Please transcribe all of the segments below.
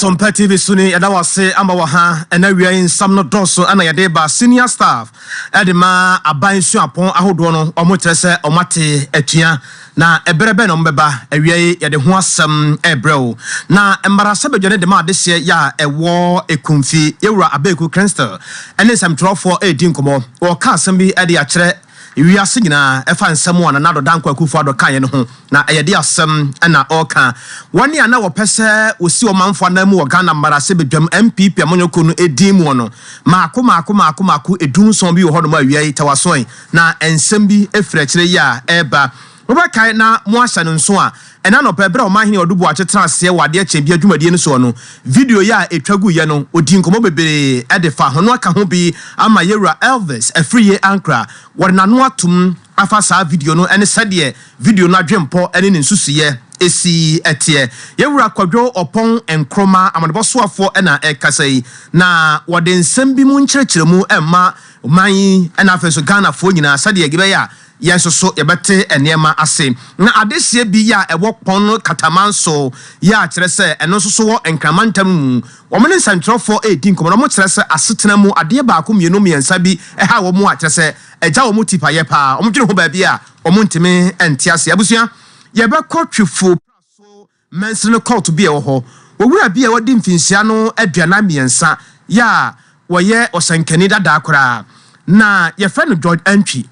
Sompa TV so ni yɛda wase ama wɔ ha ɛna wia yi nsam no dɔɔso ɛna yɛde ba senior staff ɛde ma aban suapɔn ahodoɔ no wɔn kyerɛ sɛ wɔn ate atua Na ɛberɛ bɛn na wɔbɛba? Awiɛe, yɛde ho asɛm rebrɛ wo. Na mmaransɛbadwa no de ma adehyeɛ yɛ a ɛwɔ Ekumfi. Yɛn Wura Abeku Crystal ne nsɛmtwerɛfoɔ redi nkɔmmɔ. Wɔreka asɛm bi de akyerɛ wiase nyinaa. Ɛfa nsɛm a Nana Addo Dankwa Akufo Addo kaeɛ no ho. Na ɛyɛ de asɛm na ɔreka. Wɔn a na wɔpɛ sɛ wɔsi ɔmanfo anan mu wɔ Ghana mmaransɛbadwam NPP amanyɔkuo no din muɔ no, mmaako mmaako mmaako mmaako, edu nson bi wɔ hɔnom a awiɛe, tɛwasoɔe, Na nsɛm bi firi akyire yi a ɛreba. Mobɛkae na moahyɛ no nso a, ɛnnɛ anɔpa berɛ a Ɔmanhene Odu Boakye tenaa aseɛ wɔ Adeɛ Kyɛn Biara dwumadie no soɔ no, video yi a ɛtwa guiɛ no, ɔdii nkɔmmɔ bebree de faa ho. Na waka ho bi ama yɛn Wura Elvis Afriyie Ankrah. Wɔde n'ano atom afa saa video no ne sɛdeɛ video no adwempɔ ne ne nsusuiɛ si teɛ. Yɛn Wura Kwadwo Ɔpɔn Nkrumah, Amanebɔ Soafoɔ na ɛrekasa yi, na wɔde nsɛm bi mu nkyerɛkyerɛmu rema. Ɔman yi na afei nso Ghanafoɔ nyinaa sɛdeɛ yɛbɛyɛ a yɛn nso so yɛbɛte nneɛma ase. Na adehyeɛ bi yɛ a ɛwɔ Kpong no Kataman so yɛ a kyerɛ sɛ ɛno nso so wɔ Nkran mantam mu. Wɔn ne nsɛntwerɛfoɔ redi nkɔmmɔ na wɔkyerɛ sɛ asetena mu adeɛ baako mmienu mmiɛnsa bi ha wɔn a kyerɛ sɛ agya wɔn tipayɛ pa ara. Wɔdwene ho baabi a wɔntumi nte aseɛ. Abusua, yɛbɛkɔ Twifo pra so Mansini no kɔɔto bi a ɛwɔ hɔ. Owura bi a wadi mfinhyia no aduanan mmiɛnsa yɛ a ɔyɛ ɔhyɛnkani dadaa koraa na yɛfrɛ no George Antwi.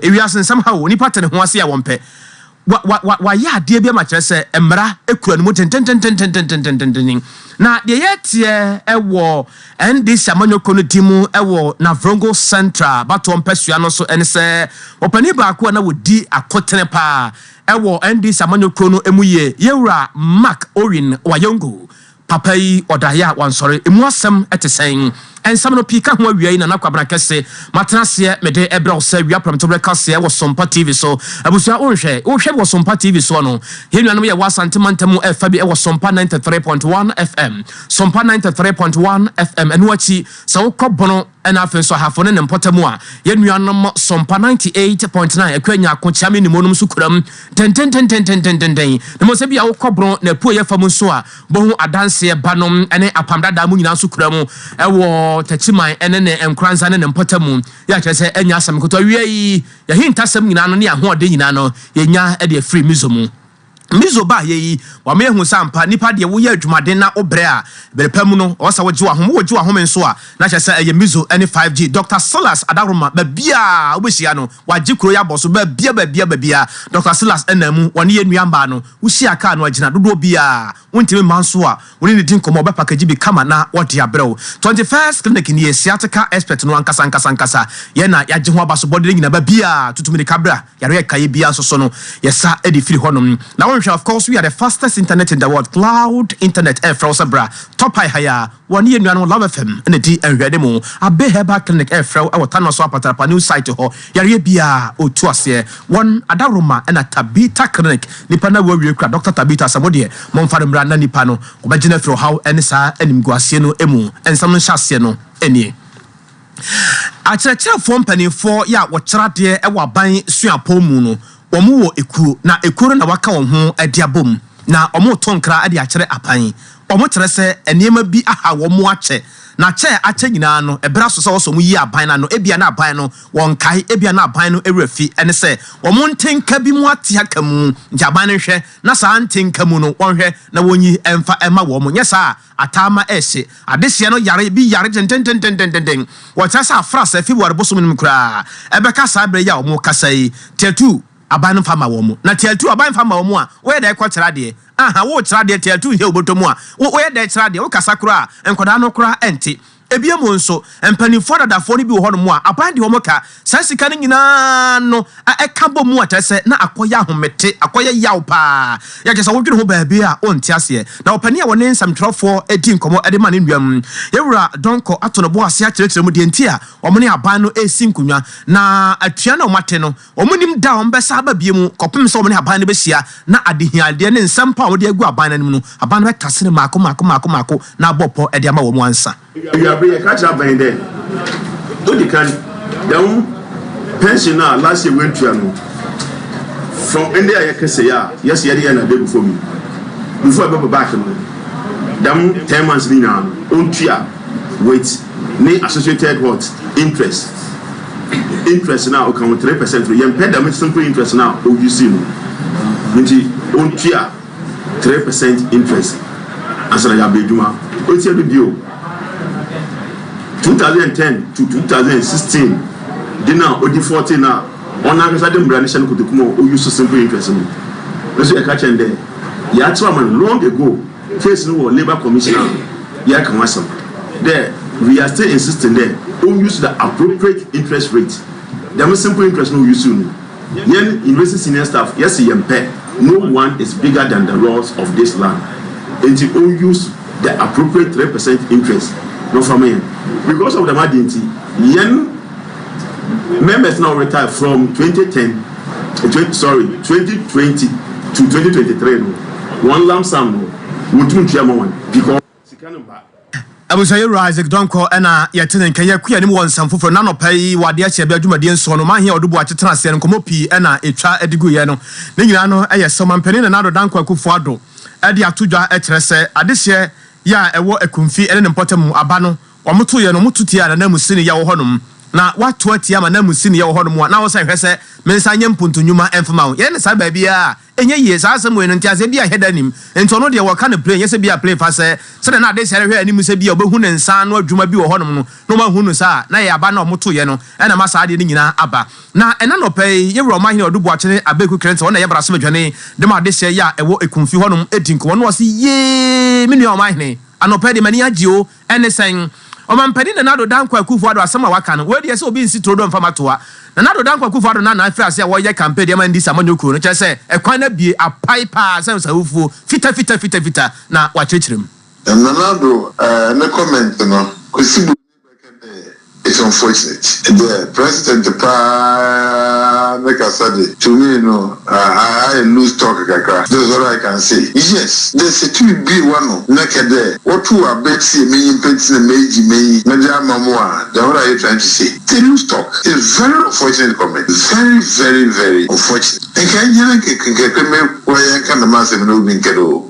Ewiase nsɛm haw onipa te ne ho ase a wɔmpɛ. Wa, wa, wa, wayɛ adeɛ bi ama kyerɛ sɛ mmara kura ne mu tententennen. Na deɛ yɛreteɛ wɔ NDC amanyɔkuo no din mu wɔ Navrongo Central abatoɔ mpasua no so ne sɛ ɔpanin baako a na ɔdi akotene pa ara Ɛwɔ NDC amanyɔkuo no ɛmu yie. Yɛwura Mark Owin Wayongo, papa yi ɔdaeɛ a wansɔre, ɛmu asɛm ɛte sɛn? Nsɛm no pii ka ho awia yi Nana Kwabena kɛse, matena aseɛ mede ɛbrɛ wo sɛ wia prɛmto berɛ kaseɛ wɔ Sompa TV so. Abusua wonhwɛ, wohwɛ bi wɔ Sompa TV soɔ no? Yɛn nuanom yɛwɔ Asante mantam mu ɛfa bi ɛwɔ Sompa 93.1 FM, Sompa 93.1 FM, ɛno akyi sɛ wokɔ Bono, Ɛna afei nso Ahafo ne ne mpɔtam a yɛn nuanom Sompa ninety eight point nine, Akua Nyarko, Kyeame ne Monom nso kuram dendendendendendenden. Na mmom sɛ ebia wokɔ Borɔn na Apueeɛ fam nso a, bohu Adanseɛ ba no ne Apam Dadaa mo nyinaa nso kuram wɔ Takyiman ne ne Nkoranza ne ne mpɔtam. Yei akyerɛ sɛ ɛnyɛ asɛm nkoto. Awiei, yɛn ahintasɛm nyinaa no ne yɛn ahoɔden nyinaa no, yɛnya de afiri Mizo mu. Mizo baa ha yi, wɔama yɛahu sɛ ampa, nnipa deɛ woyɛ adwumaden na wobrɛ a, bere pa mu no, ɛwɔ sɛ wogye w'ahome. Wogye w'ahome nso a, na kyerɛ sɛ ɛyɛ Mizo ne 5G. Dɔkta Silas Adaworoma, baabiara a wobɛhyia no, wagye kuro yi abɔ so. Baabiara, baabiara, baabiara, Dɔkta Silas nam mu, ɔne yɛn nnua mmaa no. Wohyia kaa no a, gyina dodoɔ biara a wontumi mma nso a, wo ne no di nkɔmmɔ, ɔbɛpakagye bi kama na ɔde abrɛ wo. Twenty First Clinic nie, sciatica expert no ankasa, ankasa, ankasa. Yɛn na yɛagye ho aba so, bɔ de ne nyinaa, baabiara, tutu mmirika bra. Yare a ɛkaeɛ biara nso so no, yɛsa de firi hɔnom. Na wonhwɛ a, of course, we are the fastest internet in the world, cloud internet ɛrefrɛ wo sɛ bra, tɔ pae ha yi ara. Wɔne yɛn nuanom Love FM na ɛdi nhwɛanim o. Abbey Herbal Clinic ɛrefrɛ wo wɔ Tanwa so Apatrapa new site hɔ. Yareɛ biara, ɔtu aseɛ. Wɔn adaworoma na Tabitha Clinic, nnipa no awu awie kura Doctor Tabitha sɛ mo deɛ, momfa no mmra na nnipa no, wɔbɛgye no afiri ɔhaw ne saa animguaseɛ no mu. Nsɛm no nhyɛaseɛ no nie. Akyerɛkyerɛfoɔ mpaninfoɔ yɛ a wɔkyerɛ adeɛ wɔ aban suapɔn mu no wɔn wɔ ekuo na ekuo no na waka wɔn ho de abɔ mu na wɔn to nkra de akyerɛ aban wɔn kyerɛ sɛ nneɛma bi aha wɔn akyɛ na kyɛ a akyɛ nyinaa no ɛberɛ aso sɛ wɔsɔ wɔn yi aban no ano ebia na aban no wɔn kae ebia na aban no ɛwura fi ɛne sɛ wɔn nte nka bi mu ate aka mu nti aban no nhwɛ na saa nte nka mu no wɔn hwɛ na wɔn yi ɛnfa ɛma wɔn nyɛ saa a Ataama ɛhye. Adehyeɛ no yare bi yare dendendendendenden. Wɔkyerɛ sɛ afra sɛ February bosome no mu koraa. Ɛbɛka saa berɛ yi a wɔrekasa yi, Teatu aban no mfa mma wɔn. Na Teatu aban mfa mma wɔn a, woyɛ dɛn kɔ kyerɛ adeɛ? Ahaa, worekyerɛ adeɛ, Teatu nhyɛ wo bɔtɔ mu a, wo, woyɛ dɛn kyerɛ adeɛ? Wokasa koraa a, nkwadaa no koraa nte. Bio nso, mpanimfoɔ dadafoɔ no bi wɔ hɔnom a, aban de wɔn ka. Saa sika no nyina ara no a ɛka bɔ mu a, kyerɛ sɛ, na akɔyɛ ahomete, akɔyɛ yaw pa ara. Yɛ kyerɛ sɛ wodwene ho baabi a, wonte aseɛ. Na ɔpanin a wɔne nsɛmtwerɛfoɔ di nkɔmmɔ de ma ne nuam, yɛn Wura Donkor ato no bo ase akyerɛkyerɛ mu deɛ nti a wɔne aban no resi nkonnwa, na atua no a wɔate no, Wɔnnim da a wɔbɛsan aba bio kɔpem sɛ wɔne Aban no bɛhyia na adehiadeɛ ne nsɛm pa a wɔde agu Aban no anim no, Aban no bɛtase no mmaako mmaako mmaako mmaako na abɔ pɔ de ama wɔn ansa. Awiabere yɛka kyerɛ Aban dɛ, odi kan, da wo pension no a last year woantua no from ɛnde a yɛka sei a yɛse yɛde yɛ no ade agu fam yi, before ɛbɛba back no, dɛm ten months no nyinaa no, ɔntua wit ne associated what? Interest. interest no a ɔka ho three percent no yɛmpɛ dɛm simple interest no a o use no nti ontua three percent interest ansa na yɛaba adwuma otia bi bio two thousand and ten to two thousand and sixteen de no a odi fourteen no a ɔno ankasa de mmara no hyɛ no kotoku mu a o use simple interest no nso yɛka kyɛn dɛ yɛakyerɛ ɔman long ago. case no wɔ labour commission a yɛaka ho asɛm dɛ we are still insisting dɛ o use the appropriate interest rate dɛm simple interest no o use no yɛn university senior staff yɛse yɛmpɛ no one is bigger than the laws of this land nti o use the appropriate three percent interest na ɔfa ma yɛn because of dɛm adeɛ nti yɛn Members na wɔretire from twenty ten twenty sorry twenty twenty to twenty twenty three no wɔn lump sum no wɔntumi ntua ma wɔn because sika no mma. Abusuayɛwura Isaac Donkor na yɛte ne nka. Yɛakua anim wɔ nsɛm foforɔ mu. Na anɔpa yi wɔ adeɛ ahyɛ bɛyɛ dwumadie nson no, Ɔmanhene Ɔdo Boakye tenaa aseɛ no, nkɔmmɔ pii na ɛtwa de guiɛ no. Ne nyinaa no yɛ sɛ Ɔmampanin Nana Addo Dankwa Akuffo Addo de ato dwa kyerɛ sɛ adehyeɛ yɛ a ɛwɔ Akumfi ne ne mpɔtam mu aba no, Wɔto yɛn, wɔto tia ananmusini yɛ wɔ hɔnom, na wɔato atia ma ananmusini yɛ wɔ hɔnom a, na wo sɛ hwɛ sɛ me nsa nyɛ mpontu nnwuma mfma wo. Yɛn ne saa baabiara a, ɛnyɛ yie. Saa asɛm wei no, nteaseɛ biara nhɛ da nnim. Enti ɔno deɛ, wɔka no play, nyɛ sɛ bia play fa sɛ, sɛdeɛ na Adesea rehwɛ anim sɛ bia ɔbɛhu ne nsa ano adwuma bi wɔ hɔnom no, na wanhu no saa a, na ɛyɛ aba no a wɔto yɛ no na ɛma saa adeɛ no nyinaa aba. Na ɛna nɔpɛ yi, yɛn Wura Ɔmanhene Ɔdu Boakyene Abeku Clinton, ɔno na ɛyɛ Brasom Adwane de ma Adesea yi a ɛwɔ Ekumfi hɔnom di nkɔmmɔ, na ɔse, Yee! Me nua Ɔmanhene, anɔpɛ yi deɛ m'ani agye o, Ɛne sɛn? Ɔmampanin Nana Addo Dankwa Akufo-Addo asɛm a waka no, wei deɛ sɛ obi nsi turo do mfa ma toa. Nana Addo Dankwa Akufo-Addo na na afiri ase a wɔreyɛ campaign de ama Ndc amanyɔ kuo no, kyerɛ sɛ ɛkwan no abue apae paa sɛ nsawufuo fitafita fitafita na wɔakyerɛkyerɛ mu. Nana Addo ne comment no, Kwesi Buroni bɛkɛ dɛ It's unfortunate dɛ President paa ne kasa de to me no ayɛ loose talk kakra, that is what I can say. Yes, dɛ Setui bue w'ano na kɛ dɛ wɔtow abɛ tsia me nyimpa ntsi na meedzi m'enyi medze ama mo a, then what are you trying to say? It's a loose talk. It's very unfortunate comment, very very very unfortunate. Nka enye na nka kɛ me kora yɛnka dɛm asɛm yi na obi nnkɛ do o.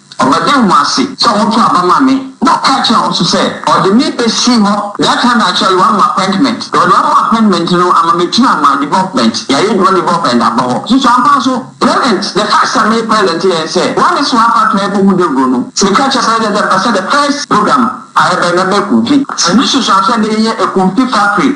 Wɔbɛda wɔn ase sɛ wɔtoo aba maa me, na ɔka kyerɛɛ wɔn nso sɛ ɔde me besi hɔ. That time I shall run m'appointment, na ɔde wama appointment no ama metua ma development, yɛayɛ adwuma development aba hɔ. Susu ampa nso, present, the first time meyɛ present yɛɛ ne sɛ wɔn ne soa afa tena yɛkɔ hu dawuro no, meka kyerɛ present sɛ mepɛ sɛ the first program a yɛbɛyɛ no ɛbɛyɛ kumfi. Ɛno susu ampa sɛ ɛnnɛ yɛnya kumfi factory.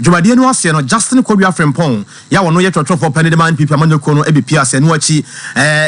Dwumadie no aseɛ no, Justin Kwadwo Afrimpong yi a ɔno yɛ twerɛtwerɛfoɔ panin de ma NPP amanyɔkuo no bɛpie ase. Ɛno akyi,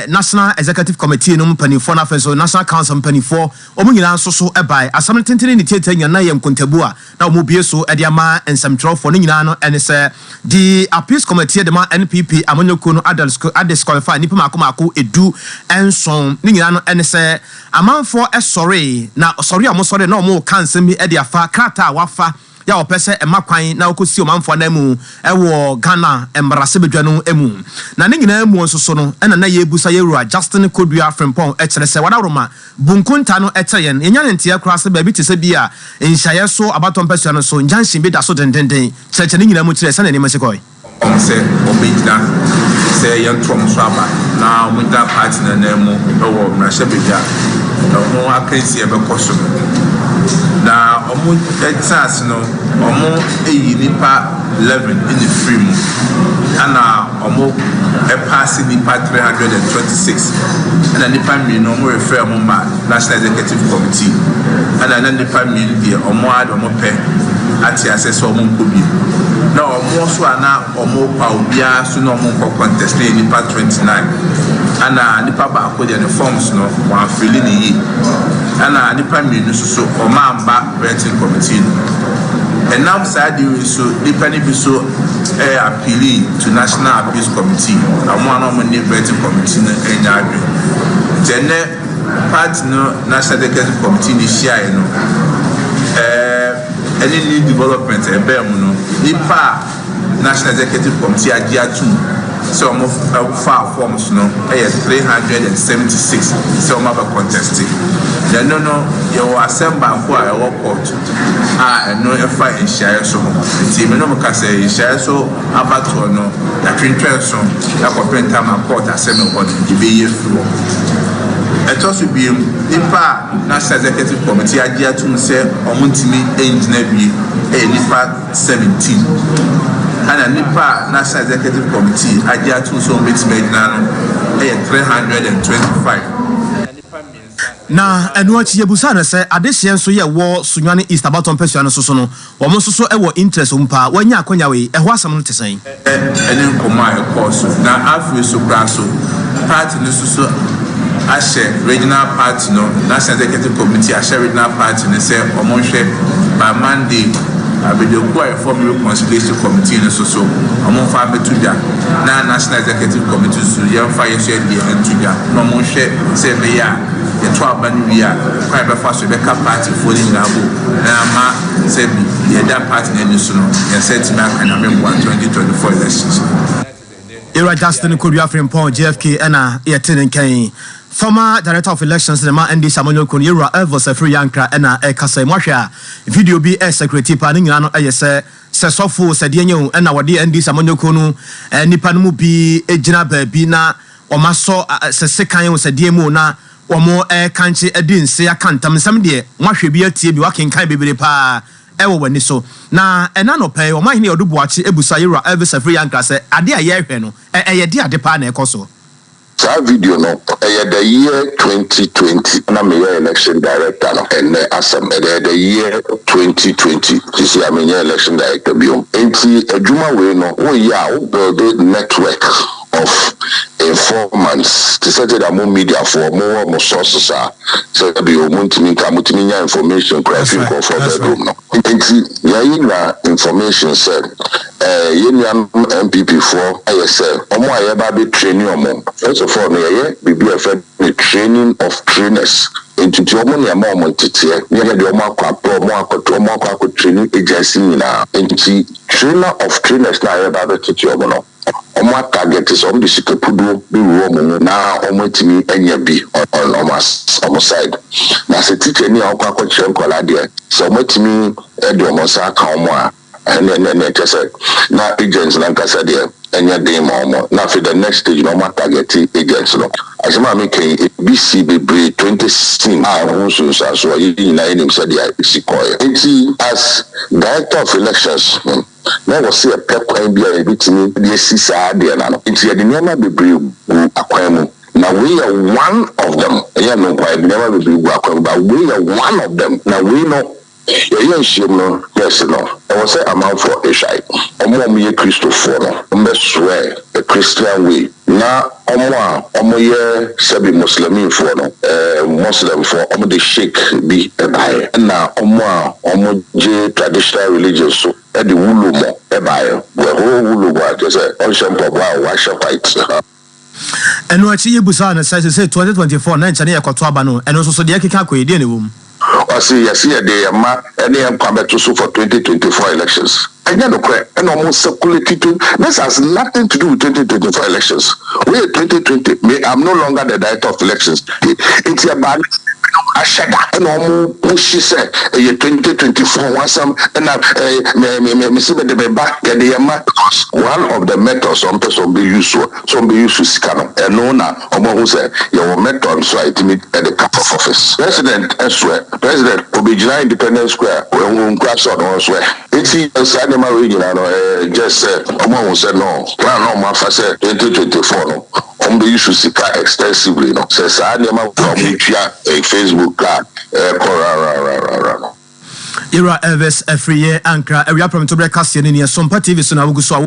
National Executive Committee no mpanimfoɔ na afei nso National Council mpanimfoɔ, wɔn nyinaa nso so baeɛ. Asɛm no tentene ne tiatia nyinaa no na ɛyɛ nkontabuo a na wɔbue so de ama nsɛmtwerɛfoɔ. Ne nyinaa no ne sɛ, de Appeals Committee de ma NPP amanyɔkuo no adisqualify nnipa mmaako mmaako du nson. Ne nyinaa no ne sɛ, amanfoɔ sɔree, na sɔre a wɔsɔree no na wɔreka nsɛm bi de afa krataa a wɔafa, yɛ a wɔpɛ sɛ ɛma kwan na wɔkɔsi ɔmanfoɔ ananmu wɔ Ghana mmarahyɛbadwa no mu. Na ne nyinaa mu nso so no na na yɛrebusa yɛn Wura Justin Kodua Frimpong kyerɛ sɛ Wadawuroma bu nkontaa no kyerɛ yɛn. Yɛnya ne nteɛ koraa sɛ baabi te sɛ bi a nhyiaeɛ so abatɔ mpasua no so junction bi da so dendenden kyerɛkyerɛ ne nyinaa mu kyerɛ sɛdeɛ nneɛma si kɔe. wɔn sɛ wɔbɛgyina sɛ yɛnto wɔn so aba na wɔgyina party no ananmu wɔ mmarahyɛbadwa a ɛho akansi a ɛbɛkɔ so no. Na wɔtena ase no, wɔyi nnipa 11 na ɛfiri mu, ɛna wɔpaase nnipa 326, ɛna nnipa mmienu wɔrefrɛ wɔn mma National Executive Committee, ɛna na nnipa mmienu deɛ wɔn ara de wɔn pɛ ate aseɛ sɛ wɔnkɔ bio. Wɔn nso a na wɔrepa obiara so na wɔnkɔ contest no yɛ nnipa twenty nine ɛna nipa baako deɛ ne forms no wɔanfili no yie ɛna nnipa mmienu nso so wɔamma vetting committee no ɛnam saa ade wei so nnipa no bi so ɛɛ appeali to national appeals committee wɔn a na wɔne vetting committee no ɛnya adwene nti ɛnɛ Party no National Executive Committee ne hyiae no, ɛɛ, ɛne New Development ɛbaa mu no, nnipa a National Executive Committee agye atum sɛ wɔn faa forms no yɛ three hundred and seventy six sɛ wɔn abɛ conteste. Na ɛno no, yɛwɔ asɛm baako a ɛwɔ kɔɔto a ɛno ɛfa nhyiaeɛ so ho. Nti me no mo ka sɛ nhyiaeɛ so. Abatoɔ no yɛatwentwɛn so kɔpem Tama Port ase no hɔ no yɛbɛyi afiri hɔ. Ɛtɔ so bio, nnipa a National Executive Committee agye atom sɛ wɔn ntumi ngyina wie yɛ nnipa 17. Ɛna nnipa a National Executive Committee agye atom sɛ wɔn bɛtumi agyina no yɛ 325. Na ɛno akyi yɛbisaa no sɛ adehyeɛ nso yɛ wɔ Sunyani East abatoɔ mpasua no nso so no, wɔn nso so wɔ interest wɔ mu paa, wɔanya akwanya wei, ɛhɔ asɛm no te sɛn? ne nkɔmmɔ a ɛkɔɔ so. Na afei nso koraa nso, party no nso so ahyɛ regional party no, National Executive Committee ahyɛ regional party no sɛ wɔn nhwɛ by Monday abadwakuo a yɛfrɛ wɔn Reconciliation Committee no nso so wɔn mfa mmɛto dwa, na National Executive Committee nso so yɛmfa yɛn nso yɛn deɛ nto dwa na wɔn nhwɛ. Sɛ ɛbɛyɛ a yɛto aba no wie a, kwan a yɛbɛfa so yɛbɛka paatifoɔ no nyinaa bom na ama sɛ bi deɛ ɛda paati no ani so no yɛn nsa atumi aka Nyame mmoa 2024 elections no. Yera Justin Kodua Frimpong, JFK, ɛna yɛte ne nka yi. Former Director of Elections no ma NDC amanyɔkuo no, Yewura Elvis Afiri Yankra, ɛna ɛrekasa yi. Mohwɛ a, video bi ɛresakurati paa. Ne nyinaa no ɛyɛ sɛ, sɛ sɔfo o, sɛ deɛn o, ɛna wɔde NDC amanyɔkuo no nnipa no mu bi gyina baabi na Wɔasɔ sɛ sekan wɔ sɛdeɛ mu o na wɔrekankye adi nse aka ntam nsɛm deɛ moahwɛ bi atie bi woakenkan bebree paa wɔ w'ani so. Na ɛna anɔpa yi Ɔmanhene Ɔdo Boakye abusa Yɛwura Elvis Afriyie Ankrah sɛ adeɛ a yɛrehwɛ no ɛyɛ de ade paa na ɛkɔ so? Saa video no ɛyɛ the year twenty twenty na meyɛ election director no ɛnnɛ asɛm ɛyɛ the year twenty twenty sisi a menyɛ election director biom nti adwuma wei no woyɛ a wo builde network of informants te sɛ sɛdeɛ mo mediafoɔ mowɔ mo sources a sɛbi o montumi nka motumi nya information koraa fi nkurɔfoɔ bedroom no nti yɛyi nyinaa information sɛ eh, yɛn nuanom MPP foɔ ayɛ sɛ ɔmo a yɛba bɛ training ɔmo first of all no yɛyɛ biribi a ɛfɛ ne training of trainers nti ti ɔmo nea ɛma ɔmo nteteɛ ne yɛ deɛ ɔmo akɔ apɛ ɔmo akɔto ɔmo akɔ akɔ training agency nyinaa nti trainer of trainers na yɛba bɛtete ɔmo no wɔn a target sɛ wɔn de sika puduo bɛ wura wɔn mu na wɔn atumi anya bi on wɔn as wɔn side na sɛ teacher ni a wɔkɔ akɔ kyerɛ nkwadaa deɛ sɛ wɔn atumi de wɔn nsa aka wɔn a ɛnɛ ɛnɛ ɛnɛ kyɛ sɛ na agents na nkasa deɛ ɛnyɛ den ma wɔn na afei the next stage na wɔn atarget agents no asɛm a meka yi ebi si bebree twenty sixteen a ɛho nsunsuanso a yɛn nyinaa yɛnim sɛdeɛ esi kɔɛ nti as director of elections na wɔse yɛpɛ kwan bi a yɛbɛtumi de asi saa adeɛ no ano, nti yɛde nneɛma bebree gu akwan mu, na wei yɛ one of them, ɛnyɛ ɛno nkoaa, yɛde nneɛma bebree gu akwan mu, but wei yɛ one of them, na wei no yɛyɛ nhyiam no first no, ɛwɔ sɛ amanfoɔ hwae, wɔn a wɔyɛ Kristofoɔ no, wɔbɛsoɛ the Christian way. Na ɔmo a ɔmo yɛ sɛbi Muslimfoɔ no, ɛɛ Muslimfoɔ, ɔmo de Sheik bi baeɛ, ɛna ɔmo a ɔmo gye Traditional Religion so de Wulomɔ baeɛ, wɔhoo Wulomɔ a kyerɛ sɛ ɔnhyɛ mpaboa a wahyɛ white ha. Ɛno akyi yebisaa no sɛ sesei 2024 na nkyɛ ne yɛkɔto aba no, ɛno nso so deɛ ɛkeka kɔ yi, deɛ na ɛwɔ mu? Ɔse yɛse yɛde yɛn mma ne yɛn nkwa bɛto so for twenty twenty four elections. Ɛnyɛ nokorɛ ɛna ɔmo circulate twen this has nothing to do with twenty twenty four elections wei yɛ twenty twenty me am no longer the director of elections he nti ɛbaa ne sɛ ebinom ahyɛ da ɛna ɔmo pushi sɛ ɛyɛ twenty twenty four ho asɛm ɛna ɛɛ me me me mese mede me ba yɛde yɛn mma because one of the methods ɔmo pɛ sɛ ɔmo bɛ use soɔ sɛ ɔmo bɛ use sika no ɛno na Wɔahu sɛ yɛwɔ method nso a yɛtumi de ka post office. President soɛ, President ɔbɛgyina Independence Square wahu nkura sɛ ɔno nso ɛ? Nti saa nneɛma wei nyinaa no ɛyɛ just sɛ wɔahu sɛ no plan a wɔafa sɛ twenty twenty four no wɔbɛ use sika extensively no, sɛ saa nneɛma wei a wɔtua Facebook ka a ɛrekɔ rarararara no. Yɛwura Elvis Afriyie, Ankra, Awia Prɛmtoberɛ Kaseɛ no ni, Ɛsompa TV so na wogu so a wohwɛ yi.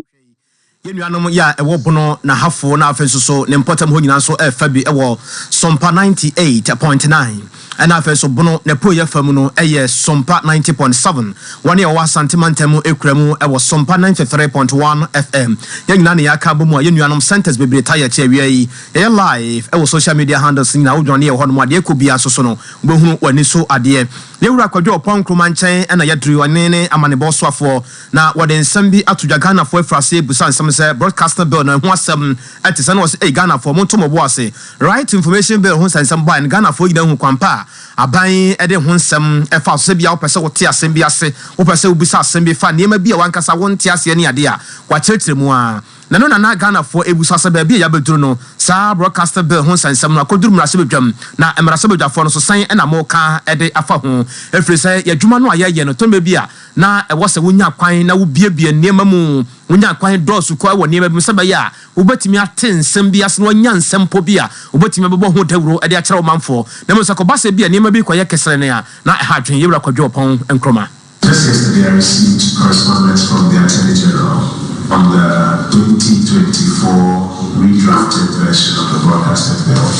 Yɛn nuanom yɛ a ɛwɔ Bono, Nahafo na afei nso so ne mpɔtam hɔ nyinaa nso fa bi wɔ Sompa ninety eight point nine ɛna afei nso Bono n'apueeɛ fa mu no yɛ Sompa ninety point seven. Wɔn a wɔwɔ Asante mantam mu kura mu wɔ Sompa ninety three point one FM. Yɛn nyinaa na yɛaka abɔ mu a yɛn nuanom centres bebree taa yɛ te awia yi. Yɛyɛ live wɔ social media handles no nyinaa. Wodwane yɛn hɔnom a deɛ ɛkɔ biara nso so no wobɛhunu w'ani so adeɛ. Yɛn Wura Kwadwo Ɔpɔn Nkrumah nkyɛn na yɛaduru. Ɔne ne amanebɔ soafoɔ. Na wɔde nsɛm bi ato dwa Ghanafoɔ afiri aseɛ rebusa nsɛm sɛ Broadcasting Bill no ɛho asɛm ɛte sɛn na wɔse ei Ghanafoɔ monto mo bo ase Right to Information Bill ho nsɛnsɛm baeɛ no Ghanafoɔ nyinaa hu kwan pa a aban de ho nsɛm fa so sɛ bia wopɛ sɛ wote asɛm bi ase wopɛ sɛ wobisa asɛm bi fa nneɛma bi a wankasa wonte aseɛ ne adeɛ a wɔakyerɛkyerɛ mu a na ɛno na na Ghanafoɔ ɛbusa sɛ baabi a yɛabɛduru no saa Broadcasting Bill ho nsɛnsɛm no akɔduru mmarahyɛbadwam na mmarahyɛbadwafoɔ no nso sɛn na moka de afa ho ɛfiri sɛ yɛn adwuma no a yɛyɛ no tɔnbɛ bi a na ɛwɔ sɛ wonya kwan na wobiebie nneɛma mu. Wonya kwan dɔɔso koraa wɔ nneɛma bi mu sɛ ɛbɛyɛ a wobetumi ate nsɛm bi ase na wɔanya nsɛmpɔ bi a wobetumi abɛbɔ ho dawuro de akyerɛ ɔmanfo. Na mmom sɛ ɛkɔba sɛ ebia nneɛma bi rekɔyɛ keserenn a, na ɛha adwene. Yɛwura Kwadwo Ɔpɔn Nkrumah. Just yesterday I received correspondence from the Attorney General on the twenty twenty four redrafted version of the Broadcasting Bill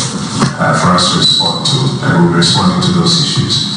for us to respond to and we'll be responding to those issues.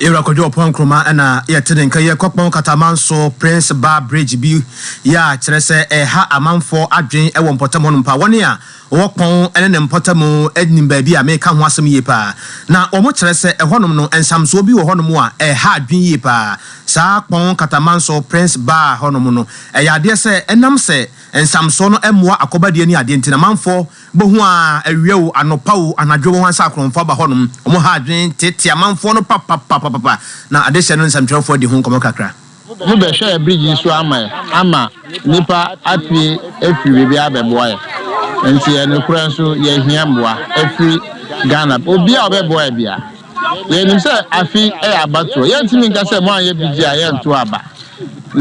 Yewura Kwadwo Ɔpɔn Nkrumah na yɛte ne nka yi. Ɛkɔ Kpɔn Kataman so Prince Bar Bridge bi yɛ a kyerɛ sɛ ɛha amanfoɔ adwen wɔ mpɔtam hɔnom paa. Wɔn a wɔwɔ Kpɔn ne ne mpɔtam nim baabi a mereka ho asɛm yie paa. Na wɔn kyerɛ sɛ ɛhɔnom no nsamsoɔ bi wɔ hɔnom a ɛha adwen yie paa. Saa Kpɔn Kataman so Prince Bar hɔnom no, ɛyɛ adeɛ sɛ ɛnam sɛ nsamsoɔ no mmoa akɔbadie ne adeɛ nti no amanfoɔ Bohu a awia o, anɔpa o, anadwo wɔn ansakorɔmfo aba hɔnom. Wɔn ha adwene teetee amanfoɔ no papapapapa, na adehyɛ no nsɛmtwerɛfoɔ adi ho nkɔmmɔ kakra. Mo bɛhwɛ yɛ bridge yi so ama yɛ ama nipa apue afiri baabi abɛboa yɛ nti yɛ nokorɛ nso yɛ hia mboa afiri Ghana obi a ɔbɛboa yɛ bia yɛ nim sɛ afi yɛ abatoɔ yɛ ntumi nka sɛ mo anyɛ bigye a yɛ nto aba na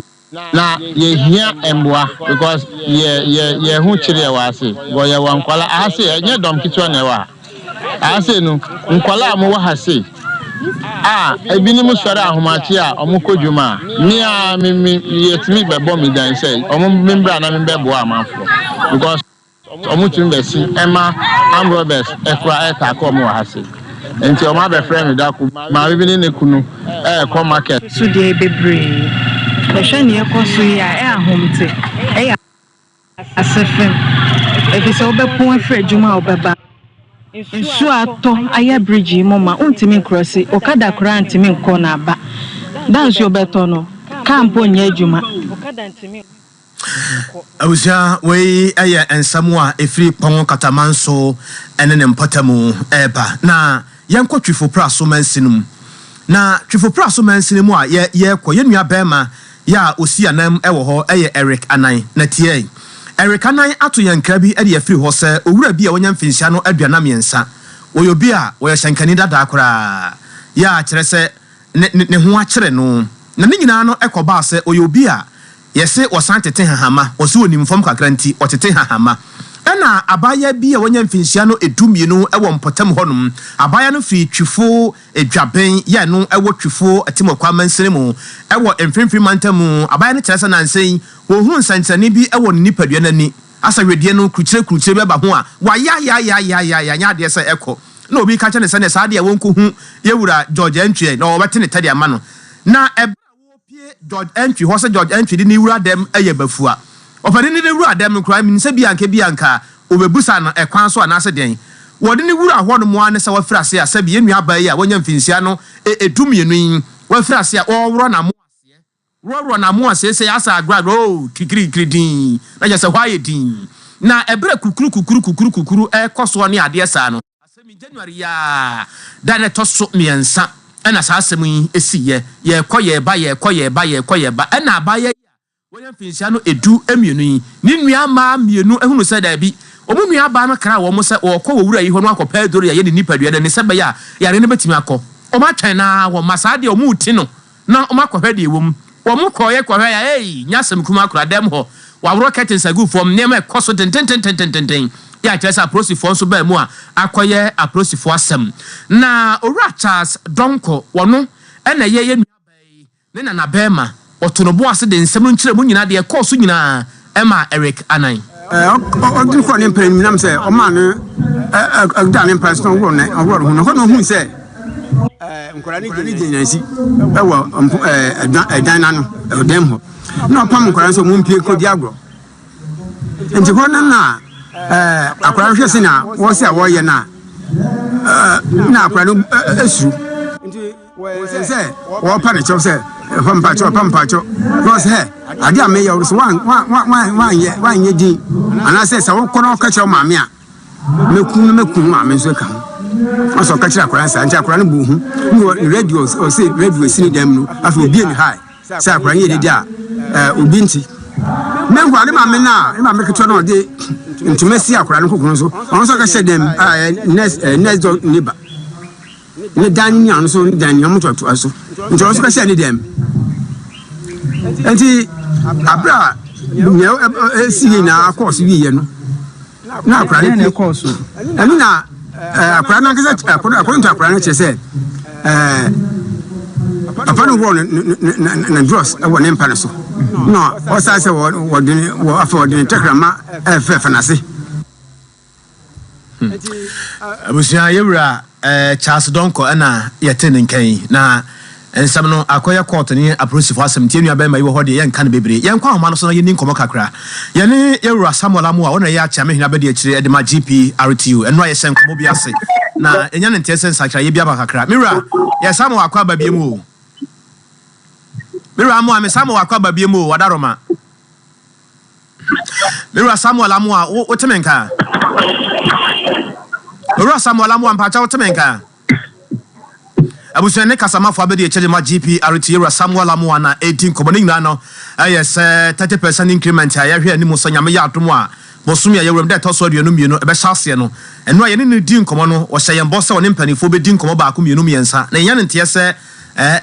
Na yehia mboa because yɛ yɛ yɛho kyere yɛ wɔ ase bcɔ yɛ wɔ nkwalaa aha sei ɛnyɛ dɔm ketewa na ɛwɔ ha aha sei no nkwalaa a ɔmo wɔ ha sei a ebinom sɔre ahomakye a ɔmo kɔ dwuma a me a me me yɛtumi bɛbɔ me dan sɛ ɔmo me mbra na me bɛboa amanfoɔ because Ɔmo tumi bɛ si ɛma armed robbers ɛkora ɛɛtaake ɔmo wɔ ha sei nti ɔmo abɛ frɛ me da koro maame bi ne ne kunu ɛɛkɔ market. So deɛ bebree bɛhwɛ nea ɛkɔ so yi a ɛ ahomte ɛyɛ ase fam efisɛ wobɛpon afiri adwuma a wobɛba nsuo a atɔ ayɛ bridge yi mu ma wontumi nkrɔse okada koraa ntumi nkɔ na aba da nsuo bɛtɔ no car mpo nyɛ adwuma. Abusua, wei yɛ nsɛm a ɛfiri Kpɔngo Katamanso ne ne mpɔtamu reba. Na yɛnkɔ Twifo Praso mansini mu. Na Twifo Praso mansini mu a yɛrekɔ, yɛn nua barima yɛ a ɔsi ananm wɔ hɔ yɛ Eric Anan. Na tie yi, Eric Anan ato yɛn nkra bi de afiri hɔ sɛ owura bi a wanya mfinhyia no aduanan mmiɛnsa. Ɔyɛ obi a ɔyɛ hyɛnkani dada koraa, yɛ a kyerɛ sɛ ne ho akyere no. Na ne nyinaa no kɔbaa sɛ ɔyɛ obi a Yɛse wɔsan tete hahama, wɔse onim fam kakra nti ɔtete hahama. Ɛna abaayaa bi a wanya mfinhyia no du mmienu wɔ mpɔtam hɔnom. Abaayaa no firi Twifo adwaben yi a ɛno wɔ Twifo Atemmuakwa mansini mu wɔ Mfimfini mantam mu. Abaayaa no kyerɛ sɛ nansa yi wɔhu nsɛnkyerɛnne bi wɔ ne nipadua no ani. Asɛ wedeɛ no kurukyire kurukyire bi aba ho a wayaayaayaayaayaayaa ɛnyɛ adeɛ sɛ ɛkɔ. Ɛna obi ka kyerɛ no sɛ neɛ saa adeɛ a wɔnkɔhu yɛn wura George Antwi ɛ na wɔbɛte ne tɛ de ama no. Na ɛberɛ a. Wɔpie George Antwi hɔ sɛ George Antwi de ne wura dɛm yɛ bafua. Ɔpanin de ne wura dɛm no koraa menim sɛ bi a anka bi a anka ɔbɛbusa no ɛkwan so anaasɛ dɛn. Wɔde ne wura hɔ nom ara ne sɛ wafiri ase a sɛbi yɛn nua baa yi a wanya mfinhyia no e du mmienu yi wafiri ase a ɔreworɔ n'amoa aseɛ worɔworɔ n'amoa seesei asɛ agragr oo kikirikiri dinn na kyerɛ sɛ hɔ ayɛ dinn na ɛberɛ kukuru kukuru kukuru kukuru ɛrekɔ soɔ ne adeɛ saa no. Asɛm yi, January yi ara da no ɛtɔ so mmiɛnsa na saa asɛm yi siiɛ. Yɛrekɔ yɛreba, yɛrekɔ yɛreba, yɛrekɔ yɛreba, ɛnna abaayewa yi a wanya mfinhyia no edu mmienu yi, ne nnua mmaa mmienu hunuu sɛ daabi, wɔn nuabaa no kraa wɔn sɛ wɔrekɔ wɔ wura yi hɔ na wɔakɔ pɛ aduro de ayɛ ne nipadua no ani sɛbɛyɛ a yare no bɛtumi akɔ. Wɔatwɛn no ara, wɔmma. Saa deɛ, wɔreti no. na ɔmo akɔhwɛ deɛ ɛwɔ mu. Ɔmo kɔeɛ kɔhwɛeɛ a ei! Nyɛ asɛm kumaa koraa, dan mu hɔ, wɔaworɔ curtains agu fam, nneɛma ɛkɔ so dendendendenden, yɛ a kyerɛ sɛ apolisifoɔ nso baa mu a akɔyɛ apolisifoɔ asɛm. Na Owura Charles Donkor, ɔno na ɛyɛ yɛn nuabaa yi ne nanabarima, ɔtoo no bo ase de nsɛm no nkyerɛmu nyinaa deɛ ɛkɔɔ so nyinaa, Ɛma Eric anan. Ɛ, ɔ, ɔde kɔɔ ne mpena anim, nam sɛ ɔmaa no ɛ, ɛ, ɛ, daa ne mpena so na ɔworɔɔ ne, ɔworɔɔ ne ho. Na hɔ na ohui sɛ ɛ, nkwadaa no gyina gyinaesi wɔ mpo, ɛ, ɛdan, ɛdan no ano, ɔdan mu hɔ. Na ɔpam nkwadaa no sɛ wɔmpue nkɔdi agorɔ. Nti hɔ no na ɛ, akwadaa no hwɛ sɛnea wɔsi a wɔreyɛ no a, ɛ, na akwadaa no ɛ, ɛ, suro. wɔyɛ sɛ wɔrepa ne kyɛw sɛ ɛfa mpakyɛw ɛfa mpakyɛw na ɔsɛ hɛ ade a meyɛ ɔsɛ wanyɛ wanyɛ din anaasɛ sɛ wokɔ na ɔka kyerɛ maame a mɛku no mɛku no maame nso ka ho ɔsɛ ɔka kyerɛ akwadaa saa nti akwadaa no bu ho ne wɔ radio ɔsɛ radio asi ne dɛm no afei obie ne hae sɛ akwadaa no yɛ dede a obi nti mɛhu ade maame no a ne maame ketewa no ɔde ntoma si akwadaa no kokoro so ɔno nso ɔka hyɛ dɛm a next next door neighbor ne dan ne nuanom so ne dan ne amotoatoa so nti ɔno nso bɛhyɛ ne dɛm nti abere a nea ɛsi yɛ nyinaa kɔɔ so wieɛ no na akora no pie kɔɔ so ɛno na akora no ankasa akɔdɔ nto akora no kyerɛ sɛ papa no wɔ ne drɔs wɔ ne mpa no so na ɔsan sɛ wɔde afɛ wɔde ne tɛkrama ɛfɛfɛ n'ase Hmm. Abusua yɛwura eh, Charles Dɔnkɔ ɛna yɛte ne nkan yi na nsɛm no akɔyɛ kɔɔto ne apolisifo asɛm nti yɛnua bɛrima yi wɔ hɔ deɛ yɛnka no bebree yɛnkɔ ahoma no so na yɛni nkɔmmɔ kakra yɛne yɛwura Samuel Amu a ɔna yɛ akyame hene abɛdi akyire ɛde ma GPRTU ɛno a yɛhyɛ nkɔmmɔ bi ase na ɛnya ne nteɛ sɛ nsakyerɛyɛ bi aba kakra mewura yɛ Samuel akɔ aba bie mu o mewura amoa me Samuel akɔ aba bie mu o wadaroma Me wura Samuel Amoah, wo wote me nka? Me wura Samuel Amoah, mpakyɛ wote me nka? Abusua ne kasamafo abɛdi akyire de ma GPRT yɛ wura Samuel Amoah na ɛredi nkɔmmɔ. Ne nyinaa no ɛyɛ sɛ 30 percent increment a yɛhwɛ anim sɛ Nyame yɛ adom a bosome a yɛwura mu da ɛtɔ so aduonu mmienu ɛbɛhyɛ aseɛ no, ɛno a yɛne no redi nkɔmmɔ no, ɔhyɛ yɛn bɔ sɛ ɔne mpaninfoɔ bɛdi nkɔmmɔ baako mmienu mmiɛnsa na yɛnya ne nteɛ sɛ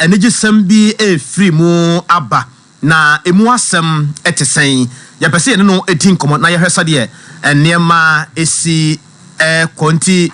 anigye sɛm bi ɛrefiri mu aba. Na emu asɛm te sɛn? Yɛpɛ sɛ yɛne no di nkɔmmɔ na yɛhwɛ sɛdeɛ nneɛma si rekɔ. Nti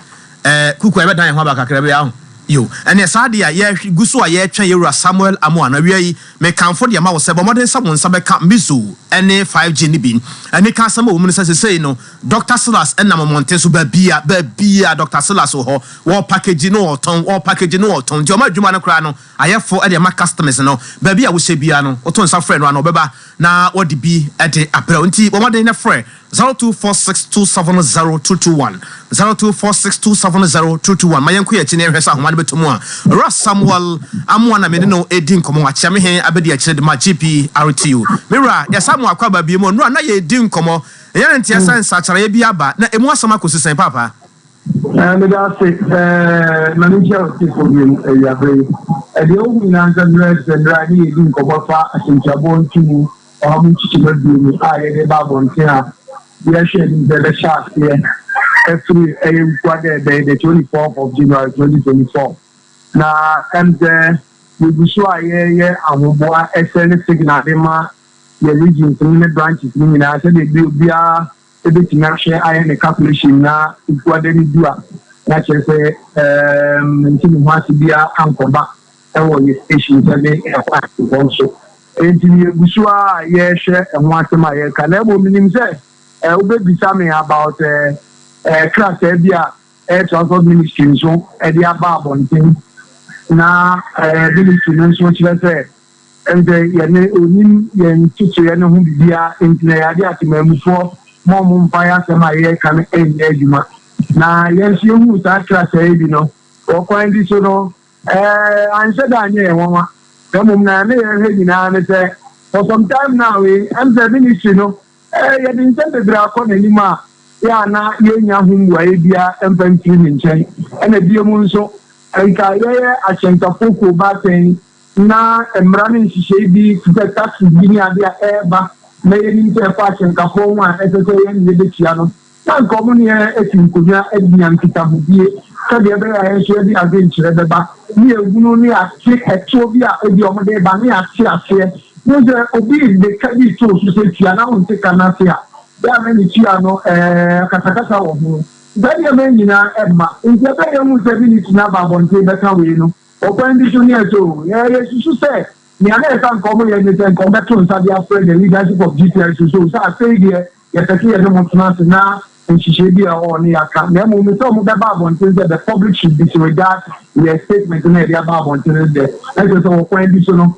kuku a yɛbɛdan yɛn ho aba kakra bi ara. Yiw, ɛnneɛ saa adeɛ a yɛgu so a yɛretwɛn yɛn wura Samuel Amoah no, awia yi, mekamfo deɛ ma wo sɛ bɔ mmɔden sɛ wo nsa bɛka Mizo ne 5G no bi. Anika asɛm a ɛwɔ mu ne sɛ seesei no, Dɔkta Silas nam mmɔnten so baabiara, baabiara Dɔkta Silas wɔ hɔ. Wɔrepakegyi na wɔretɔn, wɔrepakegyi na wɔretɔn. Nti wɔn adwuma no koraa no, Ayɛfo de ma customs no, baabi a wohyɛ biara no, woto nsa frɛ no a na ɔbɛba na wɔde bi de abrɛ wo. Nti bɔ mmɔden na frɛ 0246270221, 0246270221 ma yɛnko yɛn akyi na yɛnhwɛ sɛ ahoma no bɛtɔ mu a. Owura Samuel Amoah na me ne no redi nkɔmmɔ. Wakyea me he abɛdi akyire de ma GPRTU. Me wura, yɛsan mo akɔ ababie mu. Nnora na yɛredi nkɔmmɔ. Ɛyɛ ne nteɛ sɛ nsakyeraeɛ bi aba. Na ɛmu asɛm akɔsi sɛn paapa? Ɛɛ, meda ase. Ɛɛ, Maame Kyɛw te podium awiabere yi. Ɛdeɛ ohu nyinaa nsɛm no yɛ sɛ mmerɛ a yɛne yɛdi nkɔmmɔ fa asɛmtiaboɔ ntomu ɔha mu nkyekyɛmu aduonu a yɛde ba abɔnten a yɛrehwɛ anim sɛ ɛbɛhyɛ aseɛ afiri ɛyɛ wukua dɛ ɛbɛyɛ the twenty fourth of January twenty twenty four. Na ɛm sɛ yɛgu so a yɛreyɛ ahoboa ɛsɛ ne signal de ma yɛ regions no ne branches no nyinaa sɛdeɛ bi obiara Ebetumi ahwɛ ayɛ ne calculation na Nkuada no du a na kyerɛ sɛ ɛɛm nti ne ho ase biara ankɔba ɛwɔ yɛ station sɛ ne ɛkwan nkɔ so nti no yɛ gu so ara yɛɛhwɛ ɛho asɛm a yɛɛka na mmom menim sɛ ɛɛ wobɛbisa me about ɛɛ ɛɛ krataa bi a ɛɛ transport ministry nso ɛde aba abɔnten na ɛɛ ministry no nso kyerɛ sɛ Ɛnde yɛne Onim yɛn ntotoeɛ no ho biribiara, enti na yɛade atemammufoɔ ma wɔn mfa yɛn asɛm a yɛreka no nyɛ adwuma. Na yɛn nso yɛhuu saa kratae bi no wɔ kwan bi so no, anhyɛ da anyɛ yɛn nwanwa, na mmom na na yɛrehwɛ nyinaa ne sɛ, for some time now yi, ɛm sɛ ministry no, yɛde nsɛm bebree akɔ n'anim a yɛ a na yɛnnya ho mmuaeɛ biara mfa mfiri ne nkyɛn. Ɛna bio mu nso, nka yɛyɛ ahyɛnkafoɔ kuo baasɛn Ná mmara ne nhyehyɛe bi te sɛ taxes bi ne ade a ɛreba na yenim sɛ ɛfa ahyɛnkafo ho a ɛsɛ sɛ yɛne yebetua no. Ná anka wɔn ne yɛn asi nkonnwa adi yɛn nkitahodie sɛnea ɛbɛyɛ a yɛn nso yɛde adwenkyerɛ bɛba ne yɛn hunu ne ate ɛtoɔ bi a ebia wɔde reba ne ate aseɛ. Wohu sɛ obi de ka bi too so sɛ tua na wonte ka no ase a, bere a na metua no akasakasa wɔ ho. Saa nneɛma yi nyinaa mma. Enti ɛbɛyɛ hu sɛ Vinicius na aba abɔnten bɛka wei no. Ɔkwan bi so ni, ɛsɛ o, yɛn yesusu sɛ nea na ɛsɛ a anka wɔyɛ ne sɛ anka wɔbɛto nsa de afrɛ the leadership of GPI so so sɛ afei deɛ yɛpɛ sɛ yɛne mo tena ase na nhyehyɛe bi a ɛwɔ hɔ no yɛaka, na mmom sɛ wɔbɛba abɔnten sɛ the public should disregard yɛn statement no a yɛde aba abɔnten no dɛ, ɛsɛ sɛ ɔkwan bi so no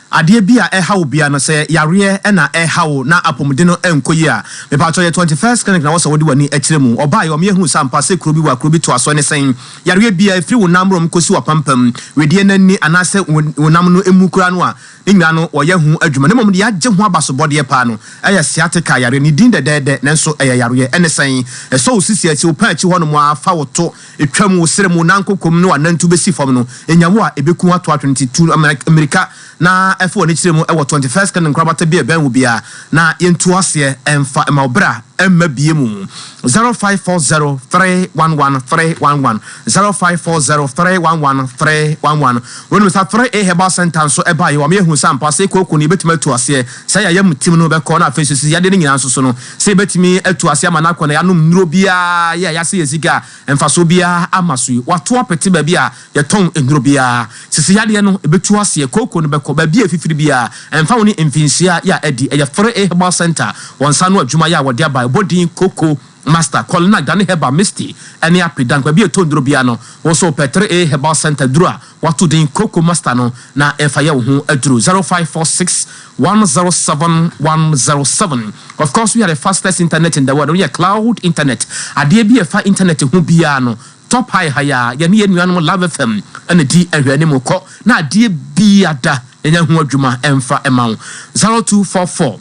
Adeɛ bi a ɛha wo bia no sɛ yareɛ na ɛha wo na apomuden no nkɔ yie a, mepaatɔ yɛ twenty first clinic na wɔsɛ wode w'ani kyerɛ mu. Ɔbaeɛ ɔmeɛ hunu sɛ ampa sɛ kuro bi wɔ a kuro bi toa soɔ ne sɛn. Yareɛ bia ɛfiri wo nan mmrom kɔsi w'apampam, wedeɛ no ani anaasɛ wo nam no mu koraa no a, ne nyinaa no wɔyɛ ho adwuma na mmom deɛ agye ho abasobɔdeɛ paa no ɛyɛ sciatica yareɛ. Ne din dɛdɛɛdɛ nanso ɛyɛ yareɛ ne sɛn? Ɛsɔ wo sisi akyi, wo pɛn akyi hɔ nom ara fa wo to, Etwa mu, wo srɛ mu, nanko komm ne w'anantu bɛsi fam no, nya wo a ɛbɛku wo ato atwene nti, tu mmirika na fa w'ani kyerɛ mu wɔ Twenty First Clinic nkorabata bi a ɛbɛn wo biara na yɛntu aseɛ ɛmfa mma wo berɛ a mma bie mu, Zero five four zero three one one three one one, Zero five four zero three one one three one one. Wonim sɛ Three A Herbal Centre nso ɛbaeɛ wɔ ama yɛahunu sɛ ampa sɛ kooko no yɛbɛtumi atu aseɛ, sɛ yɛn ayamtim no bɛkɔ na afei nso sɛ yadeɛ no nyinaa nso so no, Sɛ yebetumi atu ase ama n'akɔnnɔ a yɛanom nnuru biara yi a yɛasɛe yɛn sika a mfaso biara amma so yi, wɔato apete baabi a yɛtɔn nnuru biara. Sisi yadeɛ no, ebetu aseɛ, kooko no bɛkɔ baabi a efifiri biara, ɛmfa ho ne mfinhyia yi a adi. Ɛyɛ Fere A Herbal Centre wɔn nsa ano adwuma yi a wɔde aba a ɛbɔ din Coco Master, Kɔlina, Gane Herbal, Misty, ne Ape Dank. Baabi a yɛtɔ nnuru biara no, wo nso wopɛ Three A Herbal Centre duru a, Wato din Kroko Master no na ɛfa yɛ wo ho aduru zero five four six one zero seven one zero seven Of course we are the fastest internet in the world, woyɛ cloud internet Adeɛ bi a ɛfa internet ho biara no tɔ pae ha yi ara Yɛne yɛn nuanom Love FM na di ahwɛanim Kɔ na adeɛ biada yɛnyɛ ho adwuma mfa mma wo zero two four four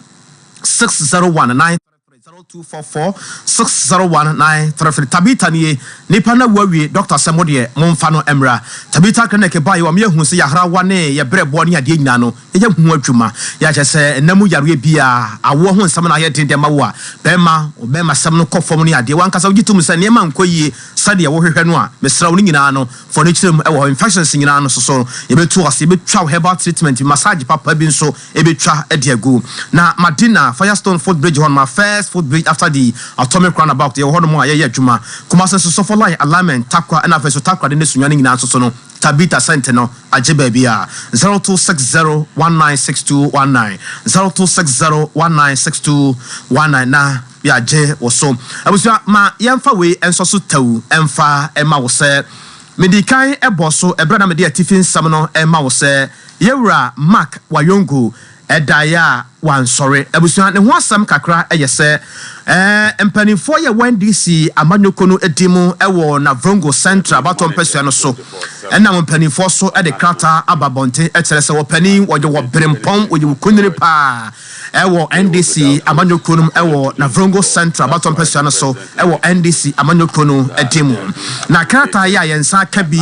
six zero one nine three. 0244601933 Tabitha nie nipa no awu awie doctor sɛ modeɛ monfa no mmra Tabitha clinic baeɛ wɔ me yɛ hu sɛ yahrawa ne yɛ brɛboɔ ne adeɛ nyinaa no yɛyɛ ho adwuma yɛ kyɛ sɛ nna mu yareɛ biaa awoɔ ho nsɛm na ayɛ den de ama wo a bɛɛma wo bɛɛma sɛm no kɔ fam ne adeɛ wankasa wogye tom sɛ nneɛma nkɔ yie sɛdeɛ wo hwehwɛ no a mesrɛ wo ne nyinaa no fɔ ne kyerɛ mu ɛwɔ hɔ infections nyinaa no soso yɛbɛtu ase yɛbɛtwa wo herbal treatment bi massage papa bi nso ebetwa de agu. Na Madina, Firestone footbridge hɔ nom a first footbridge after the atomic roundabout, yɛwɔ hɔnom a yɛyɛ adwuma. Kumase nso Sofo line alignment, Tarkwa ɛna afei nso Takoradi ne Sunyani nyinaa nso so no Tabita Center no agye baabiara. Zero two six zero one nine six two one nine, zero two six zero one nine six two one nine na yɛagye wo so. Abusua ma yɛmfa wei nsɔ so tawu mfa mma wo sɛ Mede kan bɔɔ so bere a na mede atifi nsɛm no rema wo sɛ yɛn wura Mark Wayongo daeɛ a wansɔre. Abusua, ne ho asɛm kakra yɛ sɛ, Mpanimfoɔ yɛ wɔn NDC amanyɔkuo no din mu wɔ Navrongo Central abatoɔ mpasua no so na wɔn mpanimfoɔ nso de krataa aba abɔnten kyerɛ sɛ wɔpanin wɔyɛ wɔ Berempɔn, wɔyɛ wɔ Kunene paa. wɔ NDC amanyɔ kuro no mu wɔ Navrongo Central abatoɔ mpɛsoa no so wɔ NDC amanyɔ kuro no din mu. Na krataa yi a yɛn nsa aka bi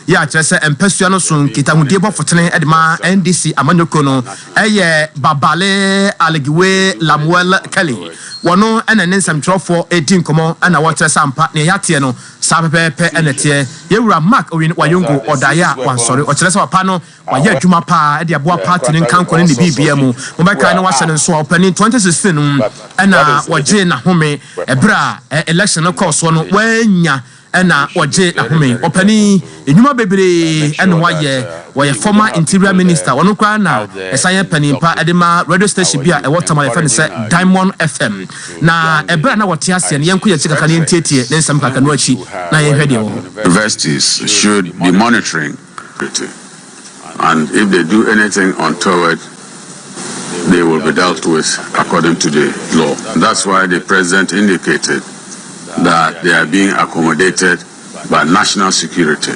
yi a kyerɛ sɛ mpɛsoa no so nkitahodie bɔ fotene de ma NDC amanyɔ kuro no yɛ Babale Aligiwe Lamuel Kelly. Wɔno na ɛne nsɛmtwerɛfoɔ redi nkɔmmɔ na wɔrekyerɛ sɛ ampa nea yɛateɛ no saa pɛpɛɛpɛ na ɛteɛ. Yɛn wura Mark Owin Wayongo ɔdaeɛ a wansɔre ɔkyerɛ sɛ papa no Wayɛ adwuma paa de aboa party no nkankɔ no ne biribiaa mu. Mobɛkae na wahyɛ no nsoa ɔpanin 2016 no mu na wɔgyee n'ahome berɛ a election no kɔɔ soɔ no wannya na wɔgyee n'ahome. Ɔpanin nnwuma bebree na wayɛ, ɔyɛ former interior minister, ɔno koraa na ɛsan yɛ panin pa de ma radio station bi a ɛwɔ Tamale yɛfrɛ no sɛ Diamond FM. Na berɛ a na wɔte aseɛ no yɛnkɔ yɛn akyi kakra na yɛntietie ne nsɛm kakranu akyi na yɛnhwɛ deɛ ɛwɔ hɔ. Universities should be monitoring pity, and if they do anything untoward they will be dealt with according to the law, that's why the president indicated that they are being accommodated by national security.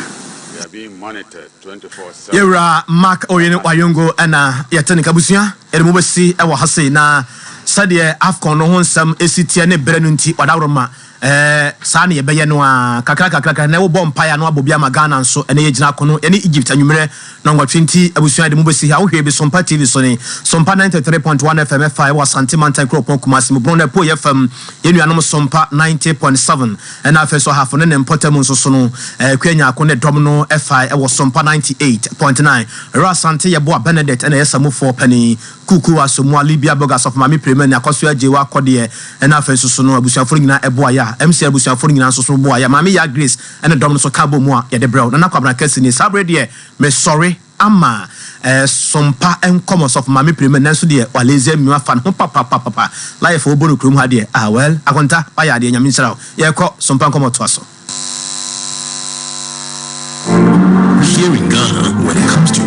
Yɛwura Mark Oyin Wayongo na yɛte ne kabusua yɛde mo bɛsi wɔ ha sei na sɛdeɛ AFCON no ho nsɛm ɛsi teɛ ne berɛ no nti wadaworo ma Ɛɛ, saa na yɛbɛyɛ no ara. Kakrakakra, nnɛ wobɔ mpae a na woabɔ bi ama Ghana nso. Ɛnnɛ yɛgyina akono ne Egypt anwummere nnɔnwɔtwe nti, abusua yɛde mo besi ha. Wohwɛ bi Sompa TV so he? Sompa 93.1 FM ɛfa ɛwɔ Asante mantan kuropɔn Kumasi mu, Borɔn apueɛ fam. Yɛn nuanom Sompa 90.7 ɛna afei nso Ahafo ne ne mpɔtam nso so no, ɛɛ Kwea Nyarko ne dɔm no ɛfa ɛwɔ Sompa 98.9. Ɔyere Asante yɛboa Bernadette ɛna ɛyɛ samufoɔ panin. Kuku Asamoah, Libya Bog Asafo Maame Prema Ani Akɔso Agye Wo Akɔdeɛ ɛna afei nso so no abusuafoɔ no nyinaa ɛboa yɛ a MCI abusuafoɔ no nyinaa nso so boa yɛ a Maame Yaa Grace ɛne dɔm no nso ka bɔ mu a yɛde brɛ wo Nana Kwabena Kɛse nie saa bere deɛ mesɔre ama ɛsompa nkɔmɔ Ɔsɔfo Maame Prema nanso deɛ Walesia Mimi wafa ne ho papapapapa Life a wɔbɔ no kurom ha deɛ ah well Akonta wayɛ adeɛ Nyame nhyira wo Yɛkɔ sompa nkɔmɔ toa so. Here in Ghana, when it comes to